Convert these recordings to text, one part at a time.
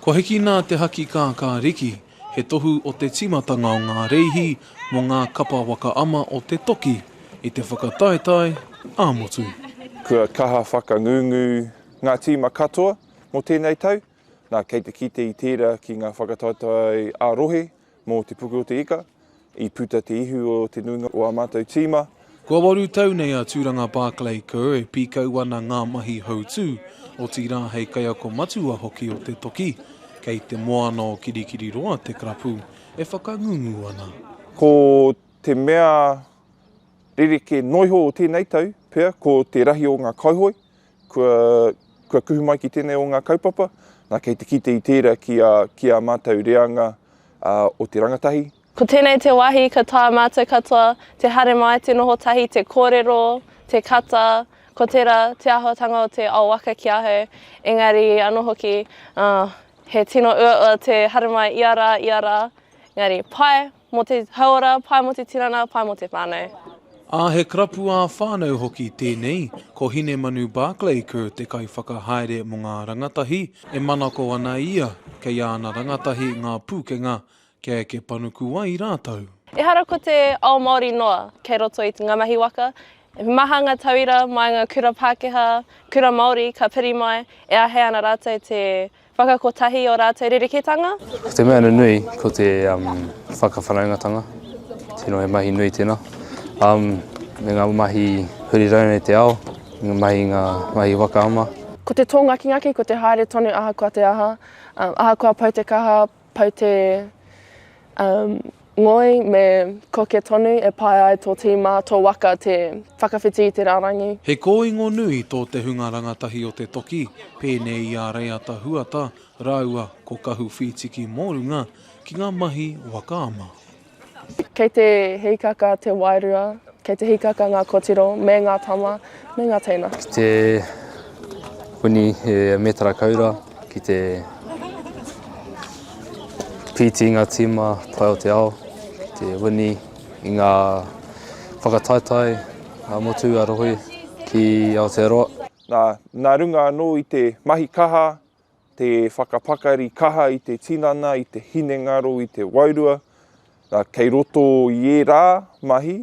Kua hiki nā te haki kākāriki, he tohu o te tīmatanga o ngā rēhi mō ngā kapa waka ama o te toki i te whakataetae ā-motu. Kua kaha whakangungu ngā tīma katoa mō tēnei tau, nā, kei te kite i tērā ki ngā whakataetae ā-rohe, Mō te puku o te ika, i puta te ihu o te nuinga o ā mātou tīma. Kua waru tau nei a Tūranga Barclay Kerr e pīkau ana ngā mahi hautū, otirā hei kaiako matua hoki o te toki. Kei Te Moana o Kirikiriroa te karapu e whakangungu ana. Ko te mea rerekē noa iho o tēnei tau pea ko te rahi o ngā kauhoe Kua, kua kuhu mai ki tēnei o ngā kaupapa, nā, kei te kite i tērā ki ā, ki ā mātou reanga ā, o te rangatahi. Ko tēnei te wāhi ka taea mātou katoa te haere mai, te noho tahi, te kōrero, te kata, ko tērā te āhuatanga o te ao waka ki ahau, engari anō hoki, ā, he tino uaua te haere mai ia rā, ia rā, engari, pai! Mō te hauora, pae mō te tinana, pae mō te whānau. Ā, he karapu ā-whānau hoki tēnei, ko Hinemanu Barclay Kerr te kaiwhakahaere mō ngā rangatahi, e manako ana ia kei āna rangatahi ngā pūkenga kia eke panuku ai rātou. Ehara ko te ao Māori noa kei roto i ngā mahi waka, he maha ngā tauira mā ngā kura Pākehā, kura Māori ka piri mai e āhei ana rātou te Whakakotahi i ō rātou rerekētanga. Ko te mea nunui, ko te whakawhanaungatanga. Tino he mahi nui tēnā. Me ngā mahi huri rānei te ao, ngā mahi, ngā mahi waka ama. Ko te tō ngakingaki, ko te haere tonu ahakoa te aha, ahakoa pau te kaha, Pau te ngoi me koke tonu e pae ai tō tīma, tō waka te whakawhiti i te rārangi. He kōingo nui tō te hunga rangatahi o te toki, pēnei i a Reiata Huata rāua ko Kahu Whītiki Mōrunga ki ngā mahi waka ama. Kei te hīkaka te wairua, kei te hīkaka ngā kotiro me ngā tama me ngā teina. Ki te huni he mētara kaura, ki te pīti i ngā tīma tae o te ao, ki te huni i ngā whakataetae a Motu, a Rohe ki Aotearoa. Nā, nā runga anō i te mahi kaha, te whakapakari kaha i te tinana, i te hinengaro, i te wairua, ā, kei roto i ērā mahi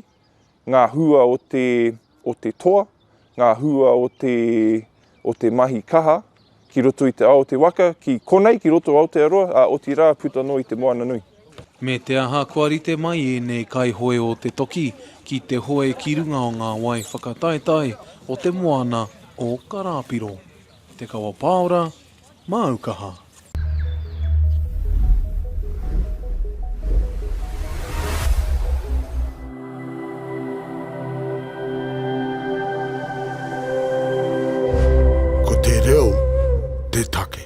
ngā hua o te, o te toa, ngā hua o te, o te mahi kaha ki roto i te ao o te waka, ki konei, ki roto o Aotearoa, ā, otirā puta noa i te moana nui. Me te aha kua rite mai ēnei kaihoe o te toki ki te hoe ki runga o ngā wai whakataetae o te moana o Karāpiro. Te kawa pāora, māu kaha. Ko te reo te take.